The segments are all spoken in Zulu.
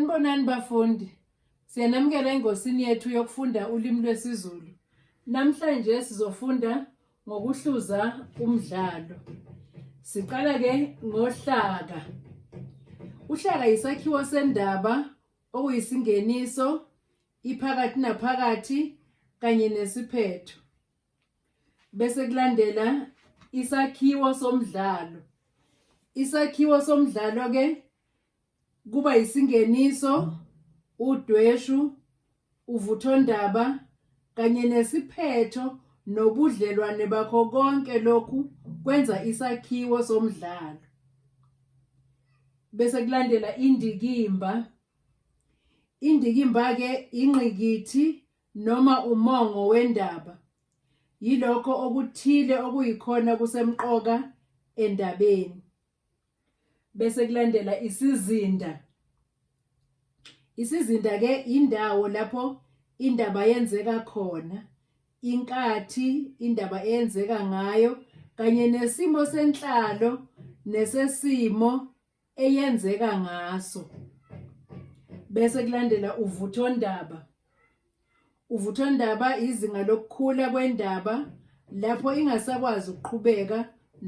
Sanibonani bafundi. Siyanamukela engosini yethu yokufunda ulimi lwesiZulu. Namhlanje sizofunda ngokuhluza umdlalo. Siqala ke ngohlaka. Uhlaka yisakhiwo sendaba okuyisingeniso, iphakathi naphakathi kanye nesiphetho. Bese kulandela isakhiwo somdlalo. Isakhiwo somdlalo ke kuba yisingeniso, udweshu, uvuthondaba kanye nesiphetho nobudlelwane bakho konke lokhu kwenza isakhiwo somdlalo. Bese kulandela indikimba. Indikimba-ke ingqikithi noma umongo wendaba. Yilokho okuthile okuyikhona kusemqoka endabeni. bese kulandela isizinda isizinda ke indawo lapho indaba yenzeka khona inkathi indaba eyenzeka ngayo kanye nesimo senhlalo nesesimo eyenzeka ngaso bese kulandela uvuthondaba Uvuthondaba izinga lokukhula kwendaba lapho ingasakwazi ukuqhubeka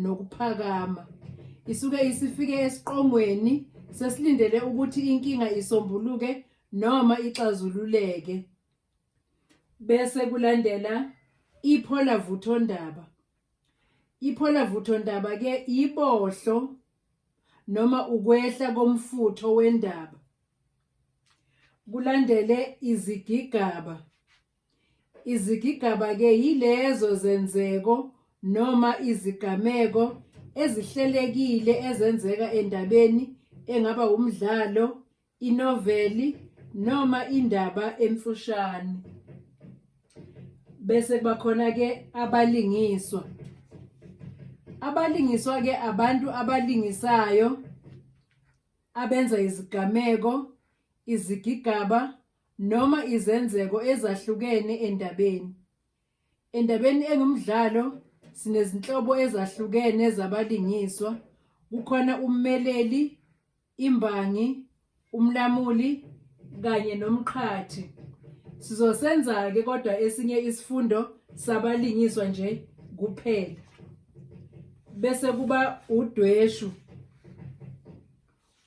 nokuphakama. Isuke isifike esiqongweni sesilindele ukuthi inkinga isombuluke noma ixazululeke. Bese kulandela iphola vuthondaba. Iphola vuthondaba ke ibohlo noma ukwehla komfutho wendaba. Kulandele izigigaba. Izigigaba-ke yilezo zenzeko noma izigameko ezihlelekile ezenzeka endabeni engaba wumdlalo, inoveli noma indaba emfushane. Bese kuba khona-ke abalingiswa. Abalingiswa-ke abantu abalingisayo abenza izigameko, izigigaba noma izenzeko ezahlukene endabeni. Endabeni engumdlalo sinezinhlobo ezahlukene zabalingiswa, kukhona ummeleli, imbangi, umlamuli kanye nomqhathi. Sizosenza-ke kodwa esinye isifundo sabalingiswa nje kuphela. bese kuba udweshu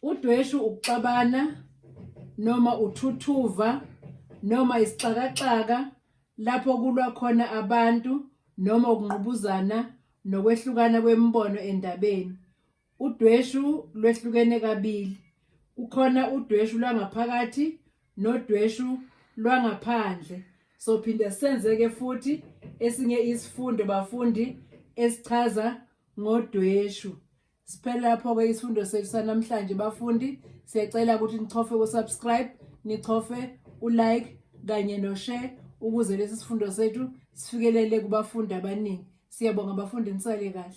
udweshu ukuxabana noma uthuthuva noma isixakaxaka lapho kulwa khona abantu noma ukungqubuzana nokwehlukana kwemibono endabeni Udweshu lwehlukene kabili. Kukhona udweshu lwangaphakathi nodweshu lwangaphandle. Sophinde senzeke futhi esinye isifundo bafundi esichaza ngodweshu. Siphela lapho ke isifundo sethu sanamhlanje bafundi. Siyacela ukuthi nichofe ku subscribe, nichofe u like kanye no share ukuze lesi sifundo sethu sifikelele kubafundi abaningi. Siyabonga bafundi nisale kahle.